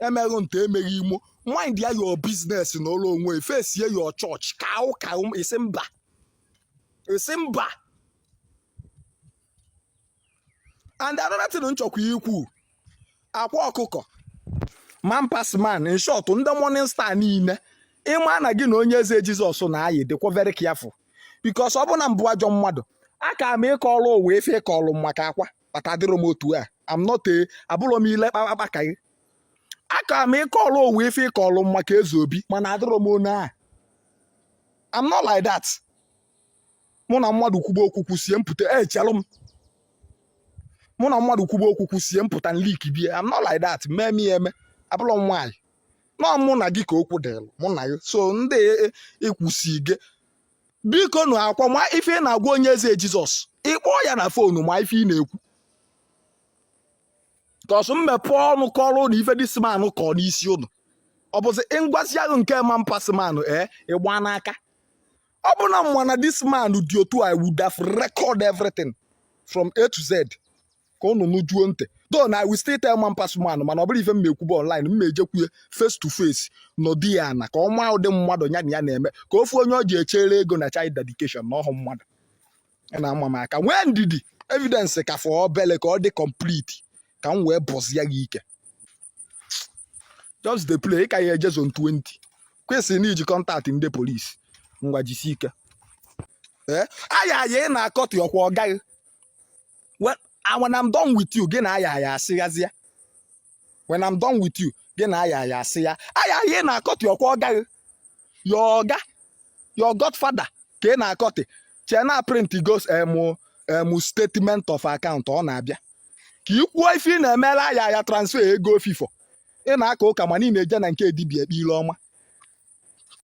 emeghị nte emeghị imo mind ya your business na ụlọ onwe face ya your church ka ụka isi mba isi mba and another thing m chọkwa ikwu akwa ọkụkọ man pass man in short ndị morning star niile ị ma na gị na onye eze jizọs na-ayị dịkwa very careful because ọ bụ na m bụ ajọ mmadụ aka m ịkọrọ ụwa ife ị kọrọ m maka akwa but adịrọ m otu a am not a abụrọ m ile kpakpakpa ka gị aka m ịkọlụ ụwa ife ị kọlụ m maka eze obi mana adịrọ m otu a am not like that mụ na mmadụ kwuba okwu kwusie m pụta echelụ m mụ na mmadụ kwuba okwu kwusie m pụta nlik bie am not like that mee m ya eme abụrọ m nwaanyị no mụ na gị ka okwu dịrị mụ na gị so ndị ịkwụsi gị biko nụ akwa ma ife ị na-agwa onye eze jizọs ị kpọọ ya na phone ma ife ị na-ekwu cos m mepe ọnụ kọrọ ụnụ ife this man kọ n'isi ụnụ ọ bụzi m gwazia nke man pass man ee ịgba n'aka ọ bụ na m ma na this man dị otu a would have record everything from A to Z ka ụnụ nụjuo ntị though na I will still tell man pass man mana ọ bụrọ ife m na-ekwube online m na-ejekwu ya face to face nọdụ ya ana ka ọ ma ụdị mmadụ ya na ya na-eme ka ọ fụ onye ọ ji echere ego na child dedication na ọhụ mmadụ ya na-ama m aka nwee ndidi evidence ka fọ obele ka ọ dị complete ka m wee bọzie gị ike just dey play ị ka ya eje zone 20 kwesịrị na i ji contact ndị polisi ngwa jisi ike ee aya aya ị na-akọtụ ọkwa ọga gị when when I'm done with you gị na aya ya asịghazịa when I'm done with you gị na aya ya asị ya aya ị na-akọtị ọkwa ọga gị your ọga your godfather ka ị na-akọtị chee na print goes em em statement of account ọ na-abịa ka i kwuo ife ị na-emere aya ya transfer ego ofifo ị na-aka ụka mana ị na-eje na nke dibia ekpe ile ọma